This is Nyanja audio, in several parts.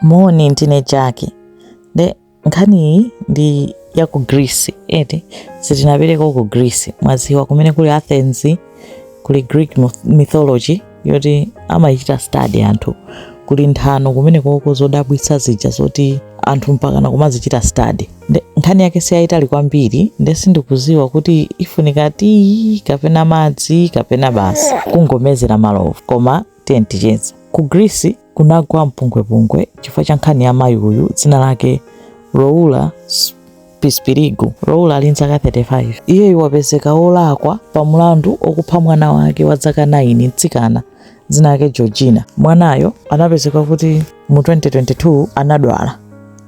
moni ndine jaki nde nkhaniyi ndi ya ku greece eti sitinapiteko ku greece mwaziwa kumene kuli athens kuli greek myth- mythology yoti amaichita study anthu kuli nthano kumene koko zodabwitsa zija zoti anthu mpakana kumazichita study nde nkhani yake siyayitali kwambiri nde sindikuziwa kuti ifunika tea kapena madzi kapena basi kungomezera malovu koma tiyeni ticheze ku greece kunagwa mpungwepungwe chifukwa cha nkhani ya mayi uyu dzina lake Roula Pispirigu. Roula ali ndi zaka 35. Iyeyu wapezeka wolakwa pa mlandu wokupha mwana wake wa zaka 9 mtsikana dzina lake Georgina. Mwanayo anapezeka kuti mu 2022 anadwala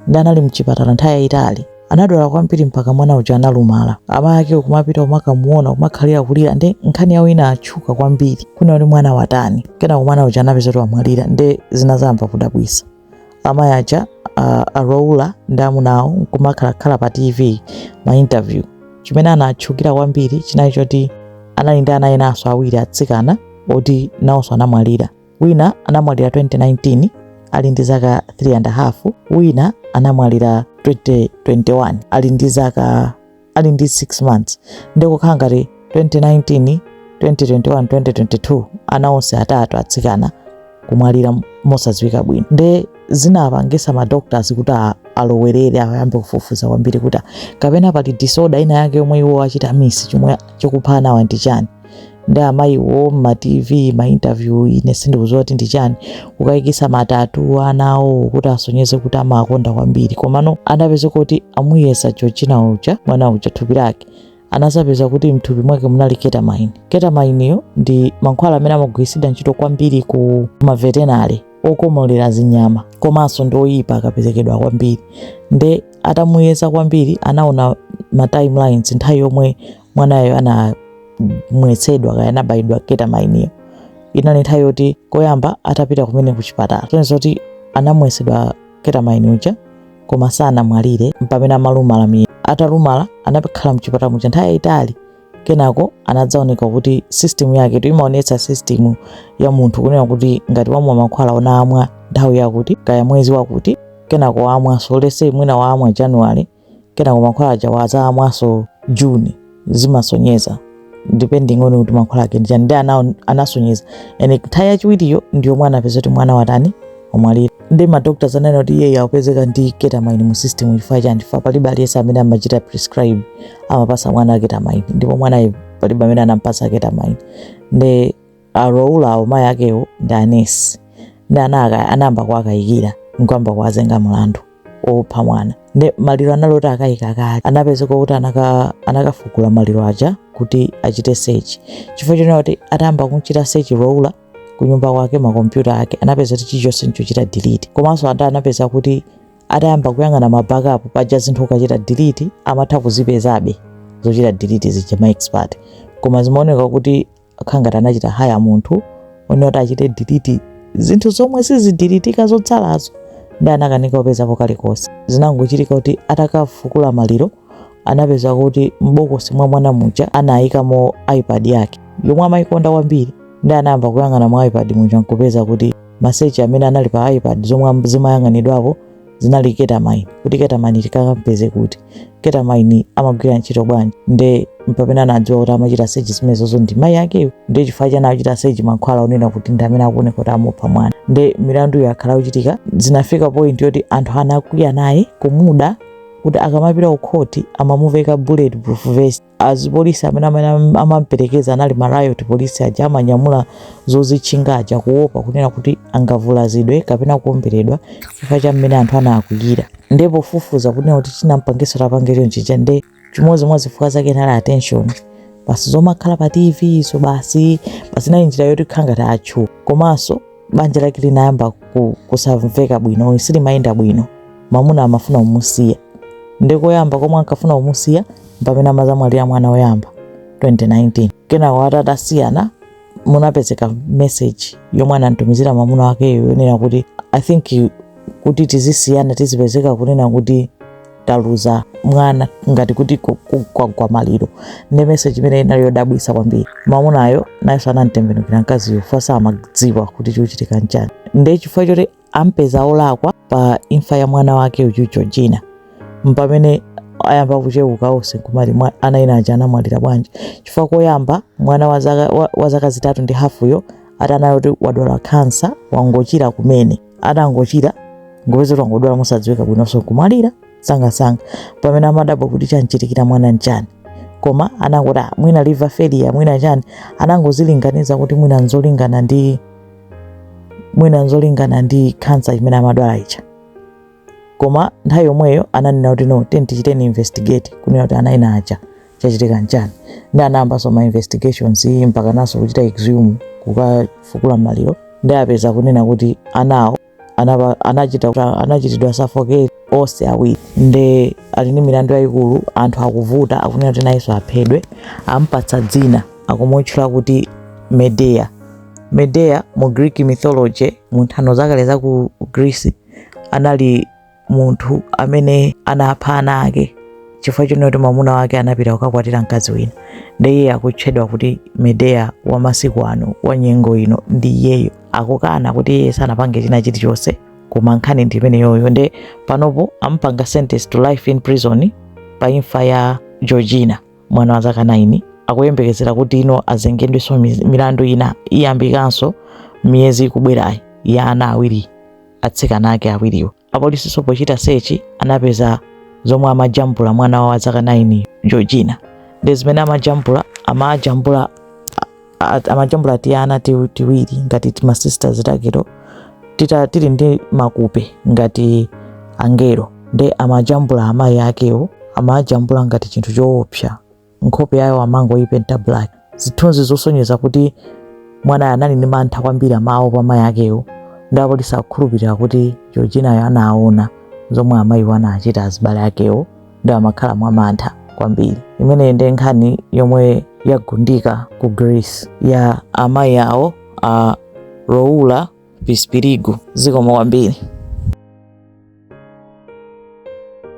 nde anali mchipatala nthawi yayitali anadwala kwambiri mpaka mwana uja analumala amayi ake kumapita kumakamuona kumakhala kulira nde nkhani yawo inatchuka kwambiri kunena kuti mwana watani kenako mwana uja anapezeka kuti wamwalira nde zinazayamba kudabwisa amayi aja uh, aroula ndi amuna awo kumakhalakhala pa tv ma interview chimene anatchukira kwambiri chinali choti anali ndi ana enanso awiri atsikana oti nawonso anamwalira wina anamwalira 2019 ali ndi zaka 3 and a half wina anamwalira 2021 ali ndi zaka ali ndi 6 months nde kukhala ngati 2019 2021 2022 ana onse atatu atsikana kumwalira mosadziwika bwino nde zinapangisa madoctors kuti a- alowerere ayambe kufufuza kwambiri kuti kapena pali disorder ina yake yomwe iwo achita miss chomwe chikupha anawa ndi chani nde amayiwo mma tv ma interview ine sindikudziwa kuti ndi chani kukayikisa ma tattoo a ana awo kuti asonyeze kuti amawakonda kwambiri komano anapezeka kuti amuyeza georgina uja mwana uja thupi lake anazapeza kuti mthupi mwake munali ketamine ketamineyo ndi mankhwala amene amagwiritsidwa ntchito kwambiri ku ma veterinary okomolera zinyama komanso ndi oyipa akaperekedwa kwambiri nde atamuyeza kwambiri anaona ma timelines nthawi yomwe mwanayo anamwetsedwa kaya anabayidwa ketamineyo inali nthawi yoti koyamba atapita kumene ku chipatala chonse zoti anamwetsedwa ketamine uja koma sanamwalire mpamene analumala miyi atalumala anakhala mchipatala muja nthawi yayitali kenako anadzaoneka kuti system yake tu imaonetsa system ya munthu kunena kuti ngati wamwa mankhwala anamwa nthawi yakuti kaya mwezi wakuti kenako wamwaso let's say mwina wamwa january kenako mankhwala aja wazamwaso june zimasonyeza depending on kuti mankhwala ake ndichani nde inasonyeza and nthawi yachiwiriyo ndiyo mwana anapezeka kuti mwana watani wamwalira nde madoctors ananena kuti iyeyo akupezeka ndi ketamine mu system chifukwa chani chifukwa palibe aliyense amene amachita prescribe amapasa mwana ketamine ndipo mwanayo palibe amene anampasa ketamine nde a Roula awo mayi akewo ndi anesi nde anayamba kuwakayikira nkuyamba kuwazenga mlandu opha mwana nde maliro anali oti akayika kale anapezeka kuti anaka- anakafukula maliro aja kuti achite sechi chifukwa chonena kuti atayamba kumchita sechi Roula kunyumba kwake makompyuta ake anapeza kuti chilichonse nchochita delete komanso ata anapeza kuti atayamba kuyang'ana mabackup paja zinthu ukachita delete amatha kuzipezabe zochita delete zija ma expert koma zimaoneka kuti khala ngati anachita haya munthu onena kuti achite diliti zinthu zomwe sizidilitika zotsalazo nde anakanika kupezapo kalikonse zinangochitika kuti atakafukula maliro anapeza kuti m'bokosi mwa mwana muja anayikamo ipad yake yomwe amayikonda kwambiri nde anayamba kuyang'ana mu ipad muja nkupeza kuti masechi amene anali pa ipad zomwe zimayang'anidwapo zinali ketamine kuti ketamine tikakampeze kuti ketamine amagwira ntchito bwanji nde mpamene anadziwa kuti amachita sechi zimenezozo ndi mayi akewo nde chifukwa chani achita sechi mankhwala onena kuti ndi amene akuoneka kuti amupha mwana nde milandu yakhala ikuchitika zinafika point yoti anthu anakwiya naye kumuda kuti akamapita kukhoti amamuveka bulletproof vest azipolisi amene amene amamperekeza anali ma riot polisi aja amanyamula zozitchinga aja kuopa kunena kuti angavulazidwe kapena kuomberedwa chifukwa cha mmene anthu anakwiyira nde pofufuza kunena kuti chinampangisa atapange chonchija nde chimodzi mwa zifukwa zake inali attention basi zomakhala pa tv izo basi basi inali njira yoti khala ngati atchu komanso banja lake linayamba ku- kusamveka bwino silimayenda bwino mamuna amafuna kumusiya nde koyamba komwe ankafuna kumusiya pamene amazamwalira mwana woyamba 2019 kenako atatasiyana munapezeka meseji yomwe anamtumizira mamuna wakeyo yonena kuti i think kuti tizisiyana tizipezeka kunena kuti taluza mwana ngati kuti ku- ku- kwagwa maliro nde meseji imene inali yodabwisa kwambiri mamunayo nayenso anamtembenukira mkaziyo fasa amadziwa kuti chikuchitika nchani nde chifukwa choti ampeza olakwa pa imfa ya mwana wake uyu georgina mpamene ayamba kucheuka onse kumati mwa- ana ena aja anamwalira bwanji chifukwa koyamba mwana wa zaka- wa- wa zaka zitatu ndi hafuyo atanayo kuti wadwala kansa wangochira kumene atangochira kungopeza kuti wangodwala mosadziwika bwinonso nkumwalira sangasanga pamene amadabwa kuti chamchitikira mwana nchani koma anangoti "Ah, mwina liver failure mwina chani anangozilinganiza kuti mwina nzolingana ndi mwina nzolingana ndi kansa imene amadwala ija koma nthawi yomweyo ananena kuti no tatichiteni investigate kunena kuti ana ena aja chachitika nchani nde anayambanso ma investigations mpakanaso kuchita exhume kukafukula maliro nde apeza kunena kuti anawo anaba- anachita- anachitidwa suffocate onse awiri nde ali ndi milandu yayikulu anthu akuvuta akunena kuti nayenso aphedwe ampatsa dzina akumutchula kuti medea medea mu greek mythology mu nthano zakale za ku greece anali munthu amene anapha ana ake chifukwa chonena kuti mwamuna wake anapita kukakwatira mkazi wina nde iye akutchedwa kuti medea wa masiku ano wa nyengo ino nde iyeyo akukana kuti iye sanapange china chilichonse koma nkhani ndi imeneyoyo nde panopo ampanga sentence to life in prison pa imfa ya georgina mwana wa zaka 9 akuyembekezera kuti ino azengedwenso miz- milandu ina iyambikanso miyezi ikubwerayi ya ana awiri atsikana ake awiriwo. Apolisinso pochita search anapeza zomwe amajambula mwana wawo wa zaka 9 Georgina. Nde zimene amajambula amajambula a- a- amajambula tiana ti- tiwiri ngati tima sisters takewo tita tili ndi mapiko ngati angelo nde amajambula amayi akewo amajambula ngati chinthu choopsa nkhope yayo amangoipenta black. Zithunzi zosonyeza kuti mwanayo anali ndi mantha kwambiri amawopa amayi akewo nde apolisi akukhulupirira kuti Georginayo anaona zomwe amayiwo anachita azibale akewo nde amakhala mwa mantha kwambiri. Imeneyi ndi nkhani yomwe yagundika ku Greece ya amayi awo a Roula Pispirigu. Zikomo kwambiri.